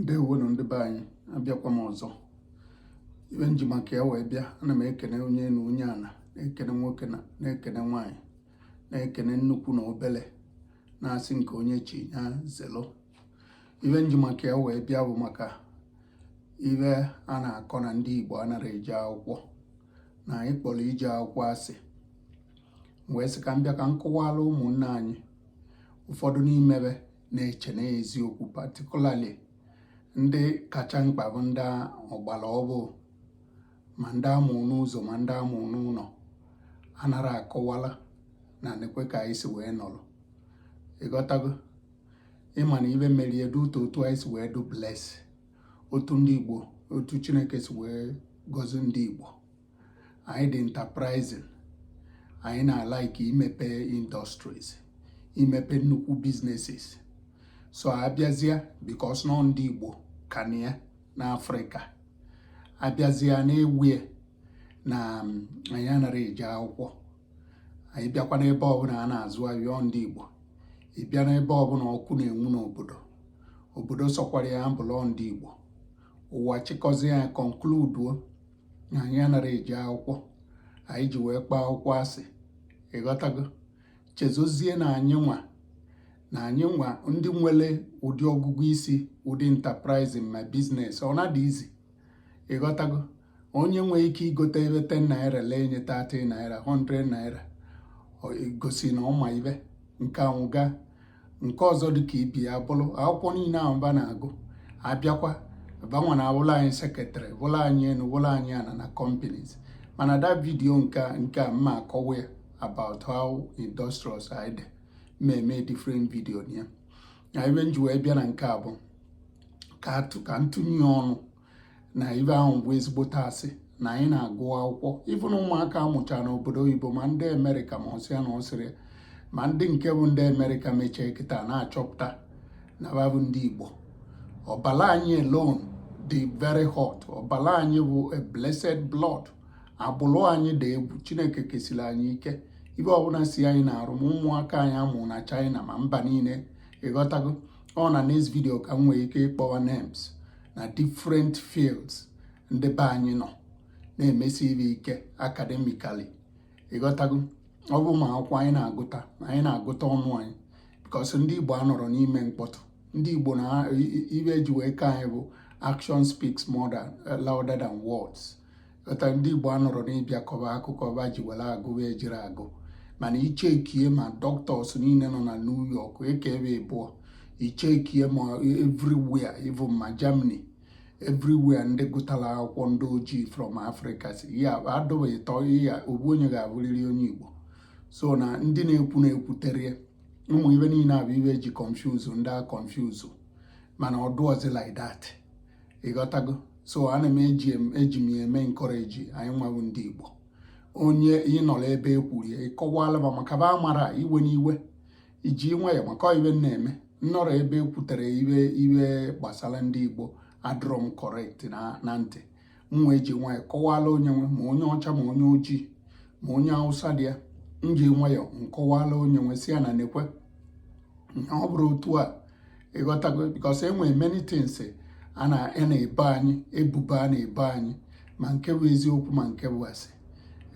ndewonụ ndị be anyị abịakwa m ọzọ ife m ji maka ya wee bịa ana m ekene onye na onye ana m ekene nwoke na-ekene nwaanyị na-ekene nnukwu na obele na-asị nke onye chi ya zelo ife m ji maka ya wee bịa bụ maka ife a na-akọ na ndị Igbo anara eje akwụkwọ na anyị kpọrọ ije akwụkwọ asị wee sị ka m bịa ka m kọwara ụmụnne anyị ụfọdụ n'ime fa na-eche na eziokwu particularly ndị kacha mkpa bụ ndị ọgbara ọfụ ma ndị a mụ n'ụzọ ma ndị a mụ n'ụnọ anara akọwala na nekwe ka anyị si wee nọrọ ị ghọtago ị ma na ife mmeri edu ụtọ otu anyị si wee dị blessed otu ndị Igbo otu Chineke si wee gọzi ndị Igbo anyị dị enterprising anyị na-alike imepe industries imepe nnukwu businesses so a bịazịa because na ọ ndị Igbo ka na ya n'Afrịka a bịazịa na-ewie na anyị anara eje akwụkwọ anyị bịakwa n'ebe ọbụla a na-azụ ahịa ọ ndị Igbo ị bịa n'ebe ọbụla ọkụ na-enwu n'obodo obodo sọkwara ya bụlụ ọ ndị Igbo ụwa chịkọzie ya konkluduo na anyị anara eje akwụkwọ anyị ji wee kpọọ akwụkwọ asị ị ghọtago chezozie na anyị nwa na anyị nwa ndị nwere ụdị ọgụgụ isi ụdị enterprising ma business ọ na-adị easy ị ghọtago onye nwee ike igote ife 10 naira lee nye 30 naira 100 naira gosi na ọ ma ife nke anwụ gaa nke ọzọ dị ka ibe ya bụrụ akwụkwọ niile ahụ fa na-agụ a bịakwa fa nwa na-awụla anyị secretary wụla anyị enu wụla anyị ana na companies mana that video nke nke a m ma akọwa ya about how industrious anyị dị ma eme different video ya na ife m ji wee bịa na nke a bụ ka m tụnye ọnụ na ife ahụ bụ ezigbote asị na anyị na-agụ akwụkwọ even ụmụaka a mụcha n'obodo oyibo ma ndị amerịka ma ọsịa na ọsịrị ma ndị nke bụ ndị amerịka mechie kịta na-achọpụta na fa bụ ndị igbo ọbala anyị alone dị very hot ọbala anyị bụ a blessed blood agbụrụ anyị dị egwu chineke kesiri anyị ike ife ọbụla si anyị na-arụ ma ụmụaka anyị a mụ na china ma mba niile ị ghọtago ọ na next video ka m nwee ike ịkpọwa names na different fields ndị be anyị nọ na-emesi ife ike academically ị ghọtago ọ bụ ma akwụkwọ anyị na-agụta na anyị na-agụta ọnụ anyị because ndị Igbo anọrọ n'ime mkpọtụ ndị Igbo na ife e ji wee ke anyị bụ action speaks louder than words ọta ndị Igbo anọrọ n'ịbịa kọba akụkọ ba ji were agụ wee jiri agụ mana ichekie ma doctors niile nọ na New York eke ebe ịbụọ ichekie ma everywhere even ma Germany everywhere ndị gụtara akwụkwọ ndị ojii from Africa sị ya a dọba ịtọ ya ovu onye ga-abụrịrị onye Igbo so na ndị na-ekwu na-ekwutere ụmụ ive niile a bụ ive e ji confuse ndị a confuse mana ọ dụọzi like that ị ghọtago so ana m eji eji m eme encourage anyị nwa wụ ndị Igbo onye ị nọrọ ebe e kwuru ya ị kọwala ba maka ba mara ive n'ive i ji nwayọ maka ive na-eme m nọrọ ebe e kwutere ive ive gbasara ndị Igbo adịrọ m correct na ntị m wee ji nwayọ kọwala onye nwe ma onye ọcha ma onye ojii ma onye Awụsa dị ya m ji nwayọ nkọwala onye nwe sị ya na nekwe ọ bụrọ otu a ị ghọtago because e nwere many things a na-ebo anyị ebubo a na-ebo anyị ma nke bụ eziokwu ma nke bụ asị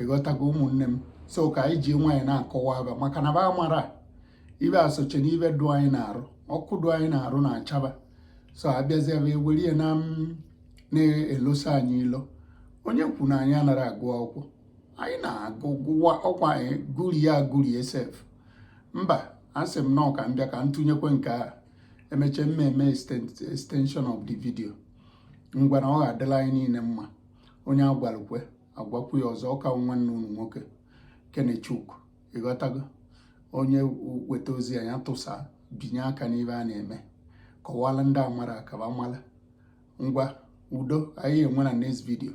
ị ghọtago ụmụnne m so ka anyị ji nwayọ na-akọwara ba maka na ba mara ive asoche na ive dụ anyị n'arụ ọkụ dụ anyị n'arụ na-acha ba so abịazi ebe ewere ihe na na-elosa anyị ilo onye kwu na anyị anaghị agụ akwụkwọ anyị na-agụ ọkwa anyị gụrie agụrie sef mba asị m nọọ ka m bịa ka m tụnyekwe nke a e meche m mee extension of the video ngwa na ọ ga-adịla anyị niile mma onye a gwalụkwe agwakwu ya ọzọ ọkwa nwanne unu nwoke Kenechukwu ị ghọtago onye weta ozi a ya tụsa binye aka n'ive a na-eme kọwala ndị amara ka ba mara ngwa udo anyị enwe na next video